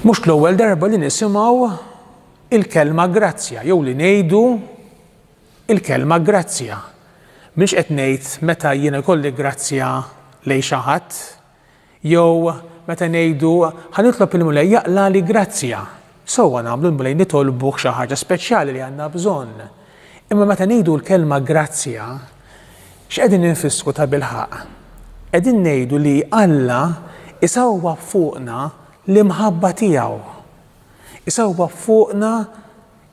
Mhux l-ewwel darba li nisimgħu il-kelma grazzja jew li ngħidu il-kelma grazzja. Mhux qed ngħid meta jiena kolli grazzja lejn xi ħadd jew meta ngħidu ħanitlob il-Mulej jaqla li grazzja. Sewwa nagħmlu l-Mulej nitolbuh xi ħaġa speċjali li għandna bżonn. Imma meta ngħidu l-kelma grazzja, x'qegħdin infissru tabilħaqq? Qegħdin ngħidu li Alla jsewwab fuqna l-imħabba tiegħu. Isewwab fuqna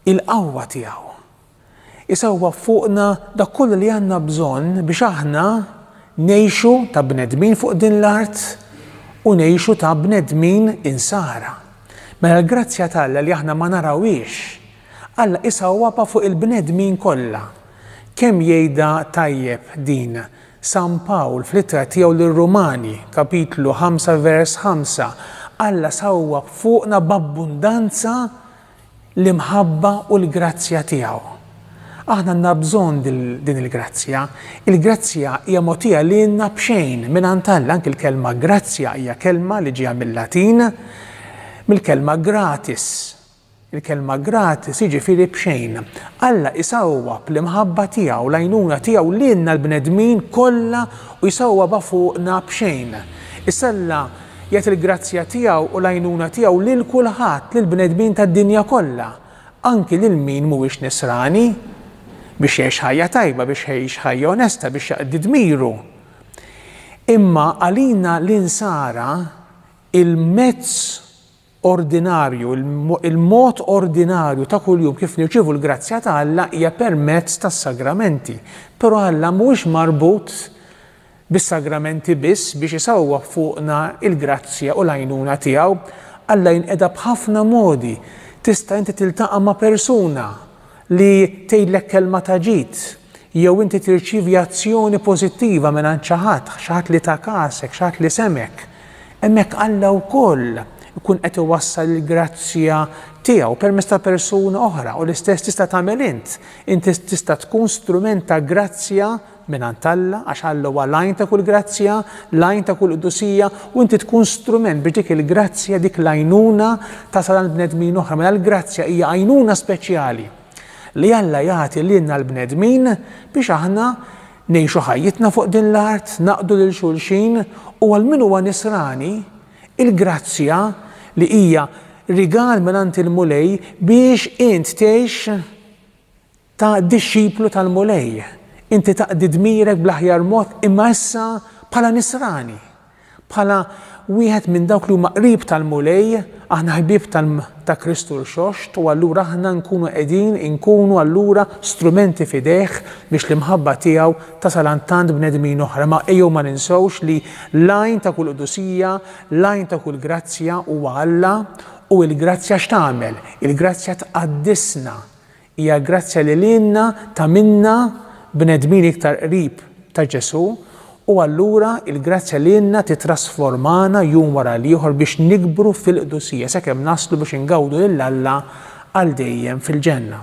il-qawwa tiegħu. Isewwa fuqna dak kollu li għandna bżonn biex aħna ngħixu ta' bnedmin fuq din l-art u ngħixu ta' bnedmin Insara. Mela l-grazzja t'Alla li aħna ma narawhiex, Alla isawwabha fuq il-bnedmin kollha. Kemm jgħidha tajjeb din San Pawl fl-ittra tiegħu lir-Rumani, kapitlu ħamsa vers ħamsa, Alla sawwab fuqna b'abbundanza l-imħabba u l-grazzja tiegħu. Aħna għandna bżonn din il-grazzja. Il-grazzja hija mogħtija lilna b'xejn mingħand Alla, anki l-kelma grazzja hija kelma li ġejja mil-Latin mill-kelma gratis. Il-kelma gratis jiġifieri b'xejn. Alla jsawwa bl-imħabba tiegħu, l-għajnuna tiegħu lilna l-bnedmin kollha u jsawwa fuqna b'xejn. Issa Alla Jagħti l-grazzja tiegħu u l-għajnuna tiegħu lil kulħadd, lill-bnedmin tad-dinja kollha, anki lil min mhuwiex Nisrani, biex jgħix ħajja tajba, biex jgħix ħajja onesta, biex jaqdi dmiru. Imma għalina l-Insara, il-mezz ordinarju, il-mod ordinarju ta' kuljum kif nirċievu l-grazzja ta' Alla hija permezz tas-sagramenti. Però Alla mhuwiex marbut bis-sagramenti biss biex isawwab fuqna l-grazzja u l-għajnuna tiegħu. Alla jinqeda b'ħafna modi. Tista' inti tiltaqa' ma' persuna li tgħidlek kelma ta' ġid, jew inti tirċievi azzjoni pożittiva mingħand xi ħadd, xi ħadd li ta kasek, xi ħadd li semgħek, hemmhekk Alla wkoll ikun qed iwassal il-grazzja tiegħu permezz ta' persuna oħra u l-istess tista' tagħmel int. Inti tista' tkun strument ta' grazzja mingħand Alla, għax Alla huwa l-għajn ta' kull grazzja, l-għajn ta' kull qdusija, u inti tkun strument biex dik il-grazzja, dik l-għajnuna tasal għand bnedmin oħra, mela l-grazzja hija għajnuna speċjali li Alla jagħti lilna l-bnedmin biex aħna ngħixu ħajjitna fuq din l-art, naqdu lil xulxin, u għal min huwa nisrani, il-grazzja li hija rigal mingħand il-Mulej biex int tgħix Ta' dixxiplu tal-Mulej, inti taqdi dmirek bl-aħjar mod imma issa bħala nisrani, bħala wieħed minn dawk li huma qrib tal-Mulej, aħna ħbieb ta' Kristu Rxoxt u allura aħna nkunu qegħdin inkunu allura strumenti f'idejh biex l-imħabba tiegħu tasal għand tant bnedmin oħra. Ma ejjew ma ninsewx li l-għajn ta' kull qdusija, l-għajn ta' kull grazzja huwa Alla u l-grazzja x'tagħmel? Il-grazzja tqaddisna, Hija l-grazzja li lilna tagħmilna bnedmin iktar qrib ta' Ġesù u allura l-grazzja lilna tittrasformana jum wara l-ieħor biex nikbru fil-qdusija sakemm naslu biex ingawdu lil Alla għal dejjem fil-ġenna.